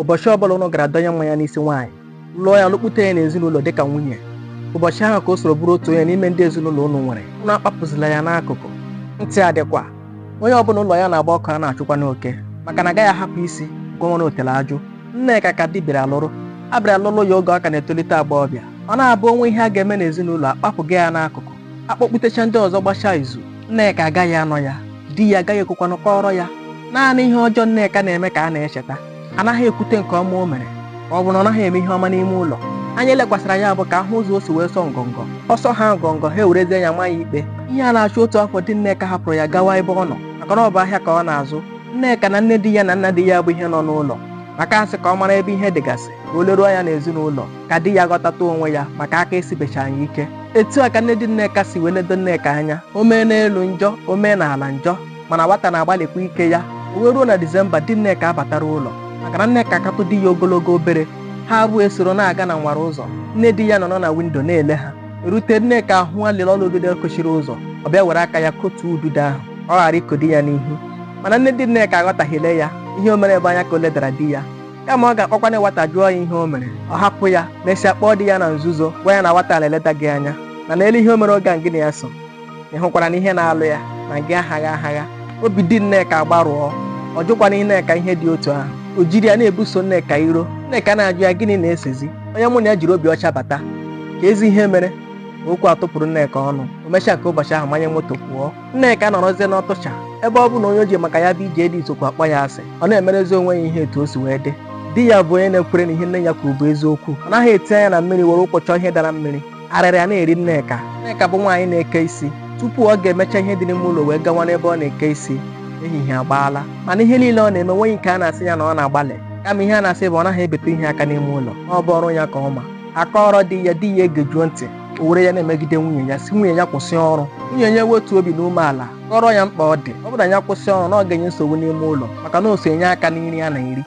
ụbọchị ọbụla ụnụ gara dọnye mmanya n'isi nwaanyị lụọ ya lụkpute ya n'ezinụlọ dịka nwunye ụbọchị ahụ ka o soro bụrụ otu onye n'ime ndị ezinụlọ ụnụ nwere ụnụ akpapụzila ya n'akụkụ ntị ya dịkwa na onye ọbụla ụlọ ya na-agba ọkụ a na-achụkwanụ oke maka na agaghị ahapụ isi kwawara otele ajụ nneka ka di bịara lụrụ a bịara lụrụ ya oge ọ ka na-etolite agbọghọbịa ọ na-abụ o nwee ihe a ga-eme n'ezinụlọ akpapụga ya n'akụkụ akpọkputecha ndị ọzọ gbachaa izu Nneka agaghị anọ ya di ya agaghị ekwekwanụ kọọrọ ya naanị ihe ọjọọ Nneka na-eme ka a na-echeta anaghị ekwute nke ọma o mere ọ bụ na ọ naghị eme ihe ọma n'ime ụlọ anya elekwasịra ya bụ ka a hụ ụzọ o si wee sọ ngọngọ ọ sọhaa ngọngọ ha ewerezie ya maa ya ikpe ihe a na-achụ otu afọ di Nneka hapụrụ ya gawa ebe ọ nọ maka na ọ bụ ahịa ka ọ na-azụ Nneka na nne di ya na nna di ya bụ ihe nọ n'ụlọ maka a sị ka ọ mara ebe ihe dịgasị ka o leruo anya n'ezinụlọ ka di ya ghọtata onwe ya maka aka esibechaghị ya ike etu a ka nne di nneka si wee ledo nneka anya o mee n'elu njọ o mee n'ala njọ mana nwata na-agbalịkwa ike ya o wee ruo na disemba di nneka abatara ụlọ maka na nneka katụ di ya ogologo obere ha abụọ esoro na-aga n'awara ụzọ nne di ya nọrọ na windo na-ele ha erute nneka ahụ alịla ọla udude kochiri ụzọ ọ bịa were aka ya kotuo udude ahụ ọ ghara iko di ya n'ihu mana nne di nneka aghọtahiele ya ihe o mere ebe a anya ka o ledara di ya kama ọ ga-akpọkwana nwata jụọ ya ihe o mere ọ hapụ ya mesịa kpọọ di ya na nzuzo gwa ya na nwata a na-eleda gị anya na lele ihe o mere oge a gị na ya so ị hụkwara na ihe na-alụ ya na gị ahaghị ahaghị obi di nneka agbarụọ ọ jụkwana nneka ihe dị otu ahụ o jiri ya na-ebuso nneka iro nneka na-ajụ ya gịnị na-esezi onye mụ na ya jiri obi ọcha bata kezi ihe mere okwu atụpụrụ nneka ọnụ o mechaa nke ụbọchị ahụ manye moto pụọ Nneka nọrọzie n'ọtụcha ebe ọ bụ na onye o ji maka ya bịa ije di sokwu akpọ ya asị ọ na-emerezi onwe ya ihe etu o si wee dị di ya bụ onye na-ekwere na ihe nne ya kwuru bụ eziokwu ọ naghị eti anya na mmiri were ụkwụ chọọ ihe dara mmiri arịrị a na-eri Nneka Nneka bụ nwaanyị na-eke isi tupu ọ ga-emecha ihe dị n'ime ụlọ wee gawa n'ebe ọ na-eke isi ehihie agbaala mana ihe niile ọ na-eme nweghị nke a na-asị ya na ọ na-agbalị kama ihe a na-asị bụ ọ naghị ebete ihe aka n'ime ụlọ ọ bụ ọrụ ya ka ọ ma a kọọrọ di ya di ya egejuo ntị o were ya na-emegide nwunye ya sị nwunye ya kwụsị ọrụ nwunye ya wetuo obi n'umeala kọọrọ ya mkpa ọ dị ọ bụrụ na ya kwụsị ọrụ na ọ ga-enye nsogbu n'ime ụlọ maka na o so enye aka na nri a na-eri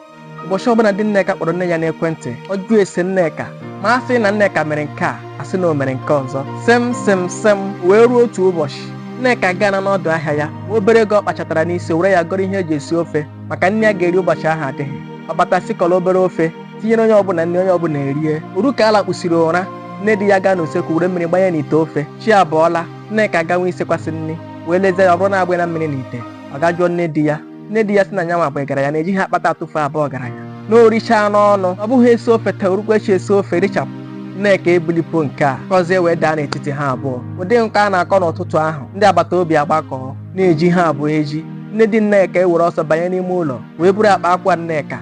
ụbọchị ọbụla di Nneka kpọrọ nne ya n'ekwentị ọ jụọ ese Nneka ma a sị na Nneka mere nke a a sị na o mere nke ọzọ sem sem sem wee ruo otu ụbọchị Nneka gaa n'ọdụ ahịa ya obere ego ọ kpachatara n'isi were ya gọrọ ihe e ji esi ofe maka na ihe a ga-eri ụbọchị ahụ adịghị ọ bata sikọrọ obere ofe tinyere onye ọbụla nri onye ọbụla erie o ruo ka a lakpusiri ụra nne di ya gaa n'usekwu were mmiri gbanye n'ite ofe chi abọọla nneka gawa isekwasị nri wee lezie ya ọ bụrụ na agbanyena mmiri n'ite ọ gaa jụọ nne di ya nne di ya sị na nyanwa bụ ihe gbara ya na ejighị akpata atụfu abụ ọgaranya na orichaa n'ọnụ ọ bụghị esi ofe taa o rukwa echi esi ofe richapụ nneka ebulipo nke a kọzie wee daa n'etiti ha abụọ ụdị nke a na-akọ n'ụtụtụ ahụ ndị agbata obi agbakọọ na-eji ha abụọ eji nne di nneka ewere ọsọ banye n'ime ụlọ wee buru akpa akwa nneka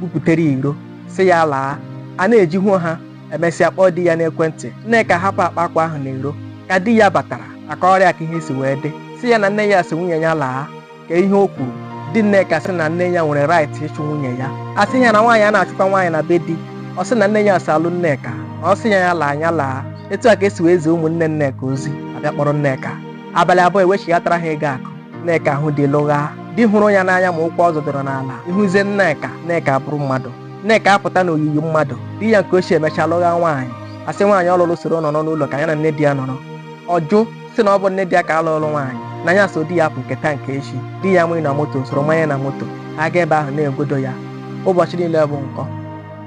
buputere iro sị ya laa a na-eji hụo ha emesịa kpọọ di ya n'ekwentị nneka hapụ akpa akwa ahụ n'iro ka di ya batara akọrọ ya ka ihe si wee dị sị ya na nne ya sị nwunye ya laa kee ihe o kwuru di nneka sị na nne ya nwere right ịchụ nwunye ya a sị ya na nwaanyị a na-achụkwa nwaanyị na be di ọ sị na nne ya sị a lụ nneka ọ sị ya ya laa nya laa etu a ka e si wee zie ụmụnne nneka ozi a bịa kpọrọ nneka abalị abụọ e wechighatara ha ego akụ nneka ahụ di lụgha di hụrụ ya n'anya ma ụkwụ ọ zọdọrọ n'ala ị hụzie nneka nneka abụrụ mmadụ nneka apụta n'oyiyi mmadụ di ya nke ochie emecha lụgha nwaanyị a sị nwaanyị ọ lụrụ soro nọrọ n'ụlọ ka ya na nne di ya nọrọ ọ jụ sị na ọ bụ nne di ya ka a lụrụ nwaanyị na ya so di ya pụ nke taa nke echi di ya manye na moto soro manye na moto aga ebe ahụ na-egodo ya ụbọchị niile bụ nkọ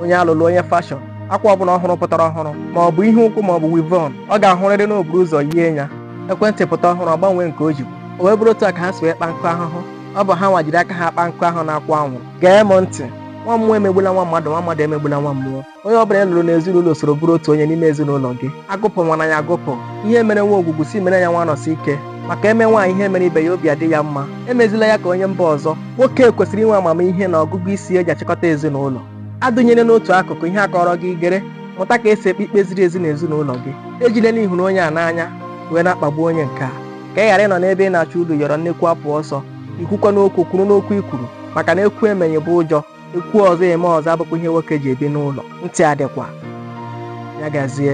onye a lụlụ onye fashọn akwa ọbụla ọhụrụ pụtara ọhụrụ ma ọ bụ ihe ụkwụ ma ọ bụ wivon ọ ga-ahụrịrị na o buru ụzọ yie ya ekwentị pụta ọhụrụ ọ gbanwee nke o jibu o wee bụrụ otu a ka ha si wee kpa nkụ ahụhụ ọ bụ ha nwa jiri aka ha kpa nkụ ahụ na-akwụ anwụrụ gee m ntị nwa mmụọ emegbula nwa mmadụ nwa mmadụ emegbula nwa mmụọ onye ọ bụla a lụrụ n'ezinụlọ soro bụrụ otu onye n'ime ezinụlọ gị agụpụkwana ya agụpụ ihe e mere nwa ogwugwu si mere ya nwa anọsike maka e mee nwaanyị ihe e mere ibe ya obi adị ya mma emezila ya ka onye mba ọzọ nwoke kwesịrị inwe amamihe na ọgụgụ isi e ji achịkọta ezinụlọ adụnyere n'otu akụkụ ihe a kọọrọ gị i gere mụta ka e si ekpe ikpe ziri ezi n'ezinụlọ gị ejile na ị hụrụ onye a n'anya wee na-akpagbu onye nke a ka ị ghara ịnọ n'ebe ị na-achọ uru yọrọ nnekwu apụ ọsọ i kwukwaa okwu kwụrụ n'okwu i kwuru maka na ekwu emeghị bụ ụjọ ekwu ọzọ eme ọzọ abụkwa ihe nwoke ji ebi n'ụlọ ntị adịkwa ya gazie